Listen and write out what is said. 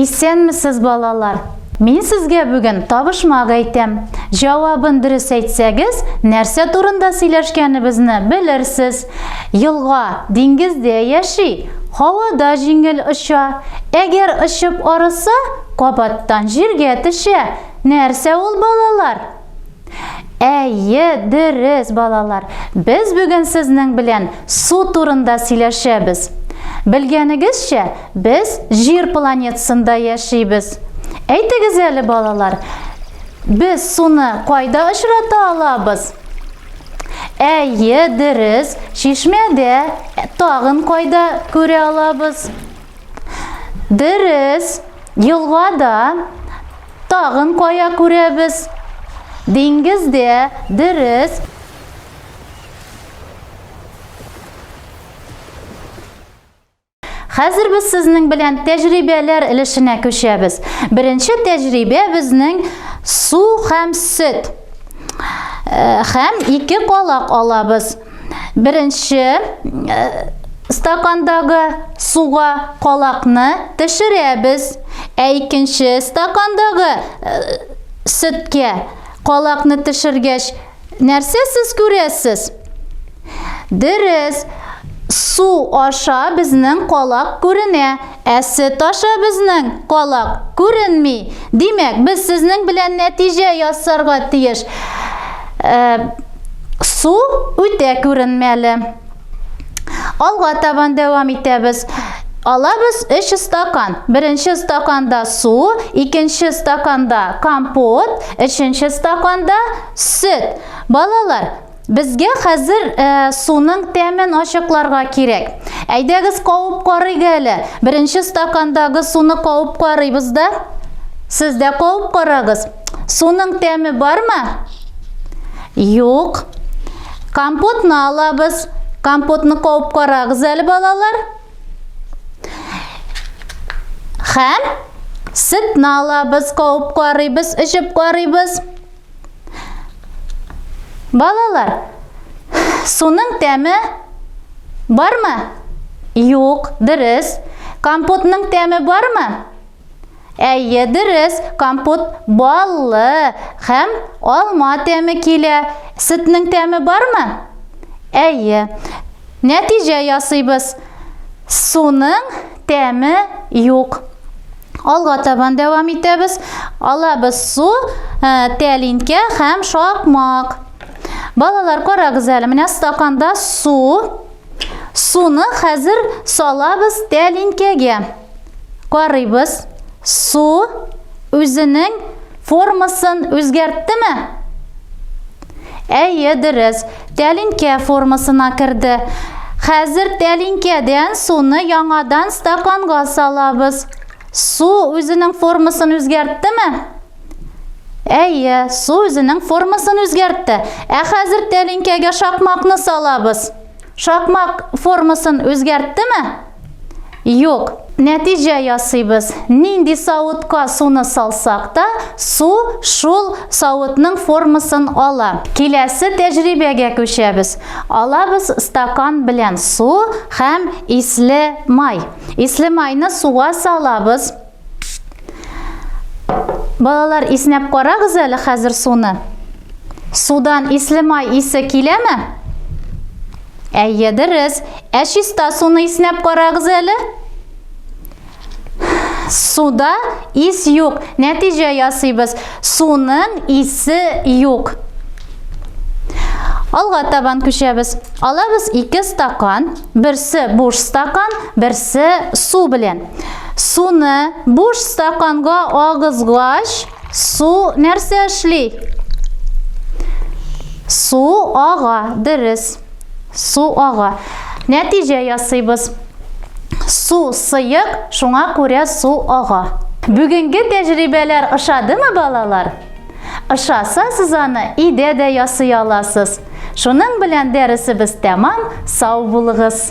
Исәнмесез, балалар! Мин сезгә бүген табышмак әйтәм. Җавабын дөрес әйтсәгез, нәрсә турында сөйләшкәнебезне белерсез. Елга диңгездә яши, һавада җиңел оча. Әгәр очып арыса, кабаттан җиргә төшә. Нәрсә ул, балалар? Әйе, дөрес, балалар. Без бүген сезнең белән су турында сөйләшәбез. Белгәнегезчә, без Җир планетасында яшибез. Әйтегез әле, балалар, без суны кайда очрата алабыз? Әйе, дөрес, чишмәдә. Тагын кайда күрә алабыз? Дөрес, елгада тагын кая күрәбез? Диңгездә, дөрес. Хәзер без сезнең белән тәҗрибәләр өлешенә күчәбез. Беренче тәҗрибә безнең су һәм сөт. Һәм ике калак алабыз. Беренче э, стакандагы суга калакны төшерәбез. Ә икенче стакандагы э, сөткә калакны төшергәч, нәрсә сез күрәсез? Дөрес, су аша безнең калак күренә. Ә сөт аша безнең калак күренми. Димәк, без сезнең белән нәтиҗә ясарга тиеш. Ә, су үтә күренмәле. Алга табан дәвам итәбез. Алабыз 3 стакан. Беренче стаканда су, икенче стаканда компот, өченче стаканда сөт. Балалар, Безгә хәзер ә, суның тәмен ачыкларга кирәк. Әйдәгез кавып карыйк әле. Беренче стакандагы суны кавып карыйбыз да. Сез дә кавып карагыз. Суның тәме бармы? Юк. Компотны алабыз. Компотны кавып карагыз әле, балалар. Хәм сетны алабыз, кавып карыйбыз, эчеп карыйбыз. Балалар, суның тәме бармы? Юк, дөрес. Компотның тәме бармы? Әйе, дөрес. Компот баллы һәм алма тәме килә. Сөтнең тәме бармы? Әйе. Нәтиҗә ясыйбыз. Суның тәме юк. Алга табан дәвам итәбез. Алабыз су, ә, тәлинкә һәм шакмак. Балалар, карагыз әле, менә стаканда су. Суны хәзер салабыз тәлинкәгә. Карыйбыз. Су үзенең формасын үзгәрттеме? Әйе, дөрес. Тәлинкә формасына керде. Хәзер тәлинкәдән суны яңадан стаканга салабыз. Су үзенең формасын үзгәрттеме? Әйе, су үзенең формасын үзгәртте. Ә хәзер тәлинкәгә шакмакны салабыз. Шакмак формасын үзгәрттеме? Юк. Нәтиҗә ясыйбыз. Нинди савытка суны салсак та, су шул савытның формасын ала. Киләсе тәҗрибәгә күчәбез. Алабыз стакан белән су һәм исле май. Исле майны суга салабыз. Балалар, иснәп карагыз әле хәзер суны. Судан исле май исе киләме? Әйе, дөрес. Ә чиста суны иснәп карагыз әле. Суда ис юк. Нәтиҗә ясыйбыз. Суның исе юк. Алга табан күчәбез. Алабыз ике стакан. Берсе буш стакан, берсе су белән. Суны буш стаканга агызгач, су нәрсә эшли? Су ага, дөрес. Су ага. Нәтиҗә ясыйбыз. Су сыек, шуңа күрә су ага. Бүгенге тәҗрибәләр ошадымы, балалар? Ышасасыз аны өйдә дә ясый аласыз. Шуның белән дәресебез тәмам, сау булыгыз!